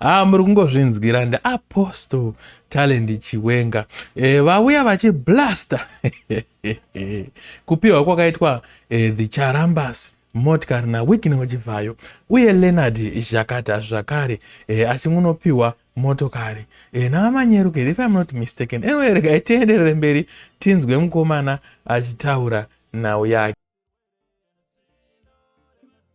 haa ah, muri kungozvinzwira ndiapostle talent chiwenga e, vauya vachiblaster kupiwa kwakaitwa e, the charambas motikari nawikini wechibvayo uye leonard zhakata zvakare e, achingunopiwa motokari e, navamanyeruke if im not mistaken anyway regai tienderere mberi tinzwe mukomana achitaura nhau yake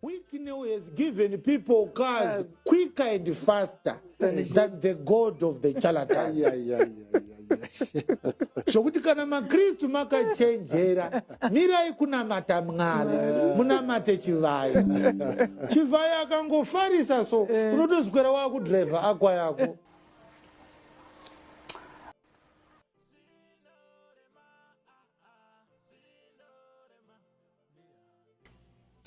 Wicknell has given people cars yes. quicker and faster than the God of the charlatans. yeah, yeah, yeah, zvokuti kana makristu makachenjera mirai kunamata mwari munamate chivhayo chivhayo akangofarisa so eh. unotoswera wakudrivha akwa yako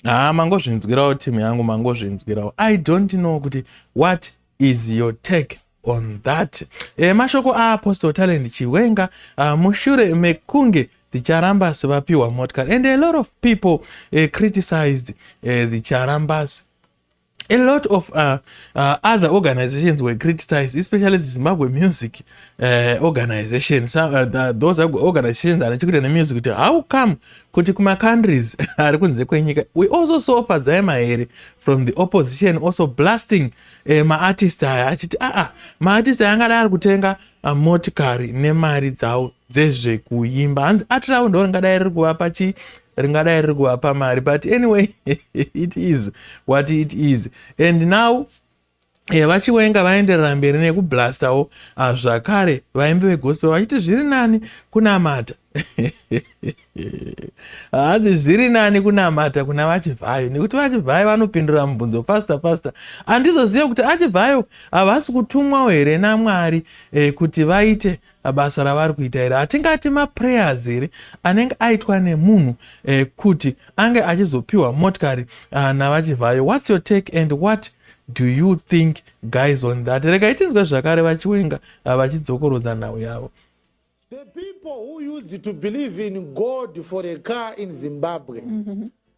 haa mangozvinzwirawo team yangu mangozvinzwirawo i don't know kuti what is your take on that e, mashoko aapostle talent chiwenga uh, mushure mekunge the charambas vapiwa motkar and a lot of people uh, criticized uh, the charambas a lot of uh, uh, other organizations were criticized especially the zimbabwe music uh, organization so, uh, the, those organizations ane chekuita nemusic kuti how come kuti kumacountries ari kunze kwenyika we also saw fadzai mahere from the opposition also blasting uh, maartist aya achiti aa ah, ah, maartist aya angadai ari kutenga uh, motikari nemari dzavo dzezvekuimba hanzi art ravo ndo ringadai riri kuvapa chi ringadai riri kuvapa mari but anyway it is what it is and now eh, vachiwenga vaenderera mberi nekublastawo ah, zvakare vaimbi vegospel vachiti zviri nani kunamata hanzi zviri nani kunamata kuna vachivhayo nekuti vachivhayo vanopindura mubvunzo fasta fasta andizoziva kuti achivhayo havasi kutumwawo here namwari eh, kuti vaite basa ravari kuita iri hatingati maprayers here anenge aitwa nemunhu eh, kuti ange achizopiwa motikari uh, navachivhayo whats your take and what do you think guys on that rega itinzwe zvakare vachiwenga uh, ah, vachidzokorodza nhau yavo the people who used to believe in god for a car in zimbabwe mm -hmm.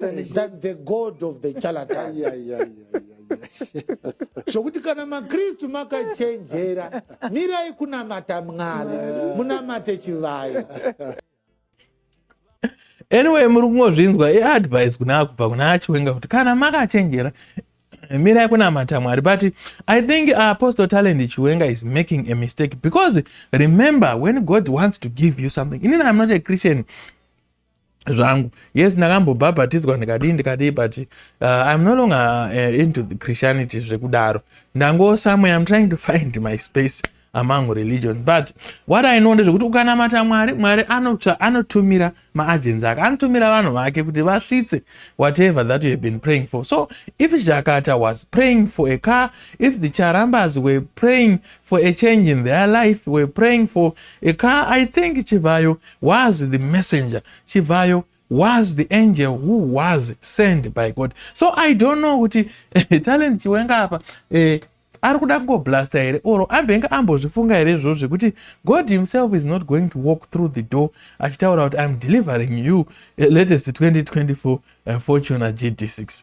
than the god of the charlatans yeah, yeah, yeah, yeah. zvokuti kana makristu makachenjera mirai kunamata mwari munamate chivayo anyway muri kungozvinzwa iadvice kuna kubva kuna achiwenga kuti kana makachenjera mirai kunamata mwari but i think uh, apostle talent chiwenga is making a mistake because remember when god wants to give you something inini i'm not a christian zvangu yes ndakambobhabhatidzwa ndikadii ndikadii but uh, im no longer uh, into the christianity zvekudaro ndango somewhere im trying to find my space among religions but what i know ndezvekuti ukanamata mwari mwari anotsva anotumira maagenzi ake anotumira vanhu vake kuti vasvitse whatever that you have been praying for so if jakata was praying for a car if the charambas were praying for a change in their life were praying for a car i think chivhayo was the messenger chivhayo was the angel who was sent by god so i don't know kuti talent chiwenga apa eh, ari kuda kungoblasta here or ambenge ambozvifunga here izvozvo zvekuti god himself is not going to walk through the door achitaura kuti iam delivering you eh, latest 2024 eh, fortuna gd6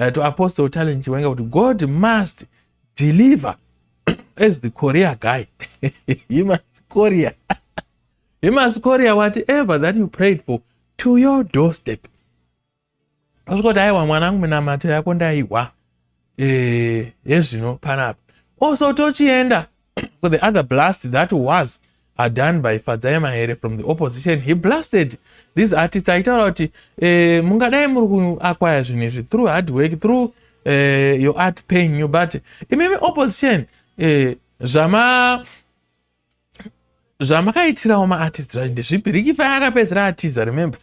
uh, to apostle talent chiwenga kuti god must deliver as the korea guy he must korea he must korea whatever that you prayed for to your doorstep asvika kuti aiwa mwanangu minamato yako ndaihwa eh, yezvino panapa also tochienda so the other blast that was are done by fadzai mahere from the opposition he blasted this artist aitaura kuti eh, mungadai muri kuakwaya zvinhu izvi through hard work through eh, your art paying you but imimi opposition eh, zvama zvamakaitirawo maartist vacho ndezvipi riki faya akapedzera atiza remember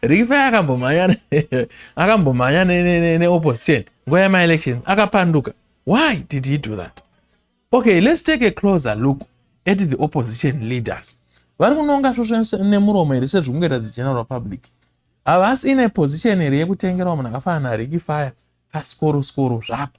riki faya akambomhanya akambomhanya neopposition nguva yemaelection akapanduka why did he do that okay let's take a closer look at the opposition leaders vari kunonga svosvo nemuromo here sezvikungoita the general public havasi ine position here yekutengerawo munhu akafanana nariki faya kasikoro sikoro zvapo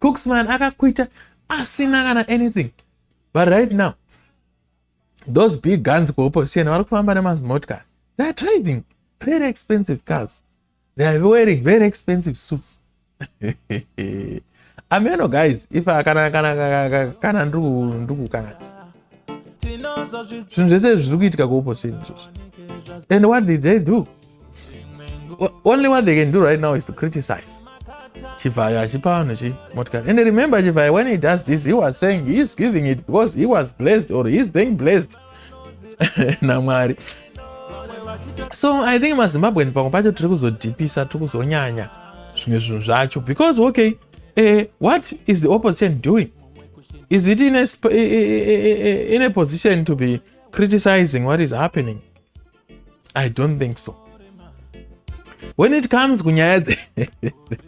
Cooksman akakuita asina kana anything but right now those big guns kuopposition vari kufamba nemazimotkar they are driving very expensive cars they are wearing very expensive suits ameno guys if kana kana kana kana ndiri kukanganisa zvinhu zvese izvi zviri kuitika kuoposini izvozvo and what did they do only what they can do right now is to criticize chivhayo achipa vanhu chi motikari and remember chivhayo when he does this he was saying he is giving it because he was blessed or he is being blessed namwari so i think mazimbabweans pamwe pacho tiri kuzodhipisa tiri kuzonyanya zvimwe zvinhu zvacho because okay uh, what is the opposition doing is it in a, in a position to be criticizing what is happening i don't think so when it comes kunyaya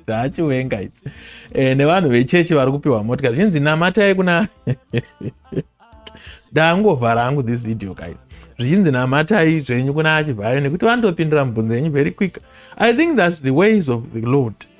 dzeachiwenga idzi eh, nevanhu vechechi vari kupiwa motika zvinzi namatai kuna daangovhara hangu this video guys zvichinzi namatai zvenyu kuna achivhayo nekuti vanotopindira mubvunzo yenyu very quick i think thats the ways of the lord